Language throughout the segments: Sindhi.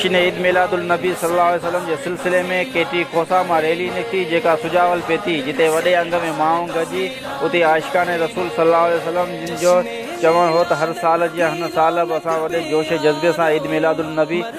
شين عيد ميلاد النبي صلي الله عليه وسلم جي سلسلي ۾ ڪي ٽي کوسا مان ريلي نڪتي جيڪا سجاول پهتي جتي وڏي انگ ۾ ماڻهو گڏجي اتي عاشقان رسول صلي الله عليه وسلم جن جو چوڻ هو ته هر سال جيان هن سال به اسان وڏي جوش جذبي سان عيد ميلاد النبي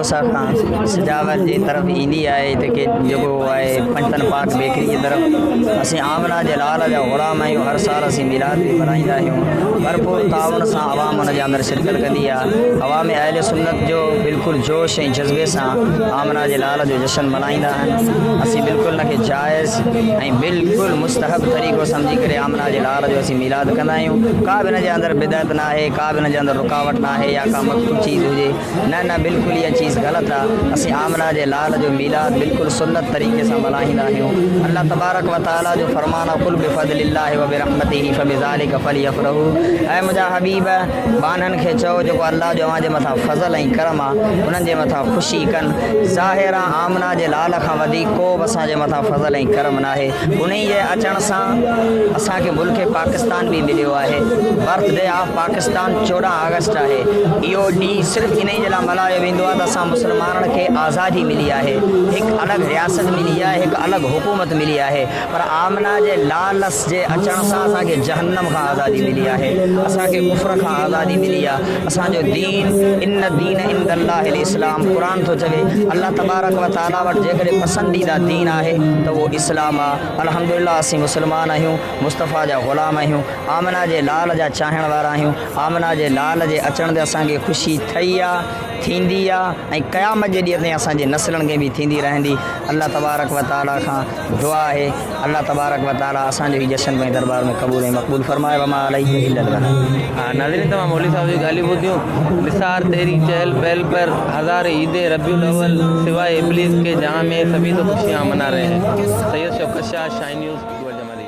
موسيٰ کان سجاوت جي طرف ايندي آهي ته ڪي جڳهه آهي پنجتن پاڪ بيڪري جي طرف اسين آمنه جي لال جا غلام آهيون هر سال اسين ميلاد به ملهائيندا آهيون ڀرپور تعاون سان عوام ان جي اندر شرڪت ڪندي آهي عوام اهل سنت جو بلڪل جوش ۽ جذبي سان آمنه جي لال جو جشن ملهائيندا آهن اسين بلڪل ان کي جائز ۽ بلڪل مستحب طريقو سمجهي ڪري آمنه جي لال جو اسين ميلاد ڪندا آهيون ڪا به ان جي اندر بدعت ناهي ڪا به ان جي اندر رڪاوٽ ناهي يا ڪا مخفي چيز هجي نه نه بلڪل اها چيز غلط آ اسين آمنه جي لال جو ميلاد بلڪل سنت طريقي سان ملهائيندا آهيون الله تبارڪ و تعالي جو فرمان آ قل بفضل الله وبرحمته فبذلک فليفرحو اي منهنجا حبيب ٻانهن کي چئو جيڪو الله جو اوهان جي مٿان فضل ۽ ڪرم آ انهن جي مٿان خوشي ڪن ظاهر آ آمنه جي لال کان وڌيڪ ڪو به اسان جي مٿان فضل ۽ ڪرم ناهي انهي جي اچڻ سان اسان کي ملڪ پاڪستان به مليو آهي birthday of Pakistan Pakistan چوڏهن آگسٽ آهي، اهو ڏينهن صرف انهي جي لاء ملهايو ويندو آهي ته اسان مسلمانن کي آزادي ملي آهي، هڪ الڳ رياست ملي آهي، هڪ الڳ حڪومت ملي آهي، پر آمنه جي لالس جي اچڻ سان اسان کي جهنم کان آزادي ملي آهي، اسان کي ڪفر کان آزادي ملي آهي، اسان جو دين ان الدين عند الله الاسلام قرآن ٿو چوي، الله تبارڪ وتعالي وٽ جيڪڏهن پسنديده دين آهي ته اهو اسلام آهي، الحمدلله اسين مسلمان آهيون، مصطفيٰ جا غلام آهيون. آمنه جي لال جا چاهڻ وارا آهيون، آمنه جي لال جي اچڻ تي اسان کي خوشي ٿئي آ، ٿيندي آ ۽ قيامت جي ڏينهن تائين اسان جي نسلن کي به ٿيندي رهندي، الله تبارڪ و تعالي کان دعا آهي الله تبارڪ و تعالي اسان جو هي جشن پنهنجي دربار ۾ قبول ۽ مقبول فرمائي وما علينا الا البلاغ. ناظرين توهان مولوي صاحب جون ڳالهيون ٻڌيون نثار تيري چهل پهل پر هزار عيدين ربيع الاول سواء ابليس ڪي جهان مين سڀي تو خوشيان منا رهي هين سيد شوڪت شاهه شاهي نيوز گوئرجمالي.